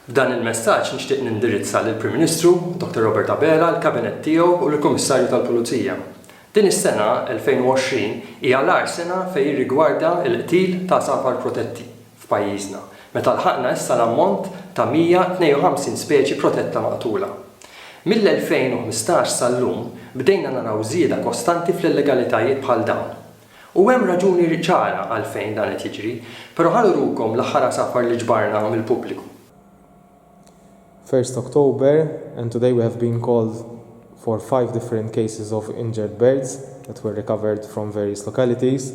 B'dan il-messaġġ nixtieq nindirizza lill-Prim Ministru, Dr. Robert Abela, l-Kabinett tiegħu u lill-Kummissarju tal-Pulizija. Din is-sena, 2020, hija l-agħar sena fejn jirrigwarda l-qtil ta' żagħfar protetti f'pajjiżna, meta lħaqna issa l-ammont ta' 152 speċi protetta maqtula. Mill-2015 sal-lum bdejna naraw żieda kostanti fl-illegalitajiet bħal dawn. U hemm raġuni ċara għalfejn dan qed jiġri. Però ħa nurukom l-aħħar għasafar li ġbarna mill-pubbliku. First October and today we have been called for five different cases of injured birds that were recovered from various localities.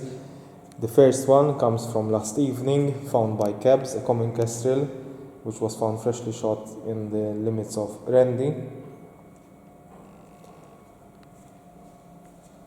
The first one comes from last evening found by Kebs, a common kestrel which was found freshly shot in the limits of Rendi.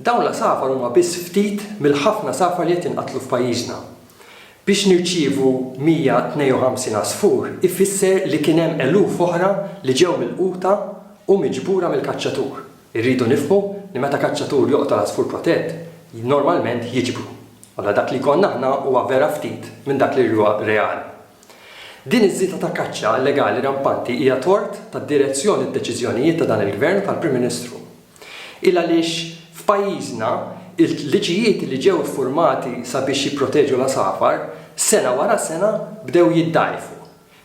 Dawn l-għasafar huma biss ftit mill-ħafna għasafar li qed jinqatlu f'pajjiżna. Biex nirċievu 152 għasfur ifisser li kien hemm eluf oħra li ġew milquta u miġbura mill-kaċċatur. Irridu nifhmu li meta kaċċatur joqtol għasfur protett, normalment jiġbru. Allura dak li jkollna aħna huwa vera ftit minn dak li huwa reali. Din iż-żieda ta' kaċċa illegali rampanti hija tort tad-direzzjoni u d-deċiżjonijiet ta' dan il-Gvern u tal-Prim Ministru. Il għaliex f'pajjiżna, il-liġijiet li ġew iffurmati sabiex jipproteġu l-għasafar, sena wara sena bdew jiddgħajfu.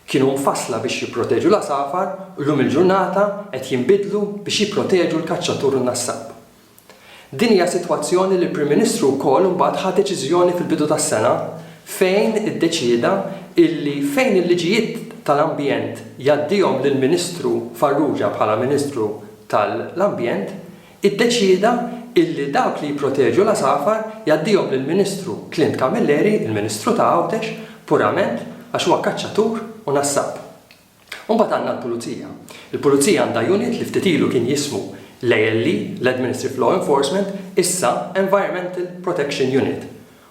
Kienu mfassla biex jipproteġu l-għasafar u llum il-ġurnata qed jinbidlu biex jipproteġu l-kaċċatur u n-nassab. Din hija sitwazzjoni li l-Prim Ministru wkoll imbagħad ħa deċiżjoni fil-bidu tas-sena fejn iddeċieda illi fejn il-liġijiet tal-ambjent jgħaddihom lill-Ministru Farrugia bħala Ministru tal-Ambjent iddeċieda illi dawk li jipproteġu l-għasafar jgħaddihom lill-Ministru Clint Camilleri, il-Ministru ta' Għawdex, purament għax huwa kaċċatur u nassab. U mbagħad għandna l-Pulizija. Il-Pulizija għandha unit li ftit ilu kien jismu l-ALE, l-Administrative Law Enforcement, issa Environmental Protection Unit.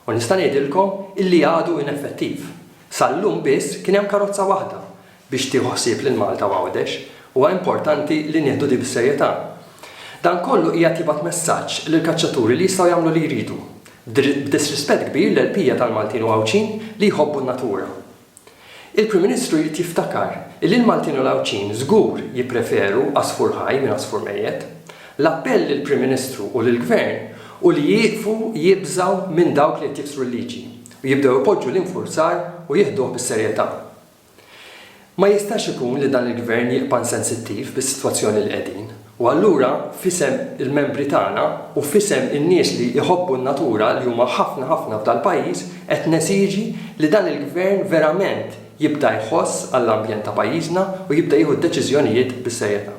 U nista' ngħidilkom illi għadu ineffettiv. Sal-lum biss kien hemm karozza waħda biex tieħu ħsieb lil Malta u Għawdex, huwa importanti li nieħdu din bis-serjetà. Dan kollu qiegħed jibgħat messaġġ lill-kaċċaturi li jistgħu jagħmlu li jridu, b'disrispett kbir l-qlbija tal-Maltin u Għawdxin li jħobbu n-natura. Il-Prim Ministru jrid jiftakar illi l-Maltin u l-Għawdxin żgur jippreferu għasfur ħaj minn għasfur mejjet. L-appell lill-Prim Ministru u lill-Gvern hu li jieqfu jibżgħu minn dawk li qed jiksru l-liġi u jibdew ipoġġu l-infurzar u jieħduh bis-serjetà. Ma jistax ikun li dan il-Gvern jibqa' insensittiv bis-sitwazzjoni li qegħdin. U allura, f'isem il-membri tagħna u f'isem in-nies li jħobbu n-natura li huma ħafna ħafna f'dal-pajjiż qed nesiġi li dan il-Gvern verament jibda jħoss għall-ambjent ta' pajjiżna u jibda jieħu d-deċiżjonijiet bis-serjetà.